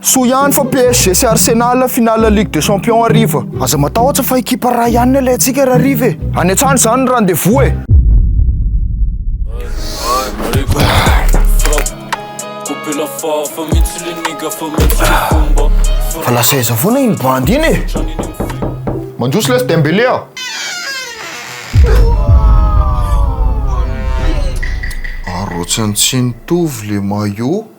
Soa ihany fa PSG sy Arsenal finale Ligue des Champions hariva. Aza matahotra fa ekipa ray ihany ny alaintsika ry hariva e! Any an-trano izany ny rendez-vous e! Fa lasa aiza foana iny bandy iny e! Mandroso lesy Dembélé a! Arotsany tsy nitovy le maillot.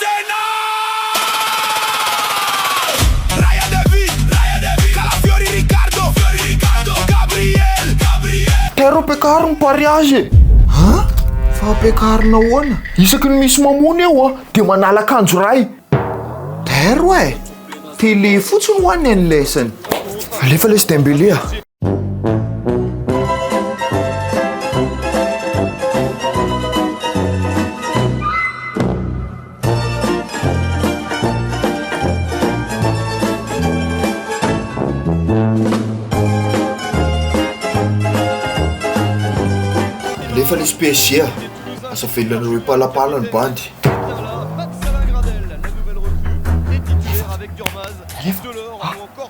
Tena! Raya Devi, Calafiori Ricardo, Gabriel. Tairo ampiakaro ny pariage e! An? Fa ampiakarina ahoana? Isaky ny misy mamono eo an, dia manala akanjo iray. Tairo eh! Télé fotsiny ho'a ny an'ilay sany. Alefa lesy Dembélé a! Nefa nisy PSG a! Aza velona anareo hipalapala ny bandy.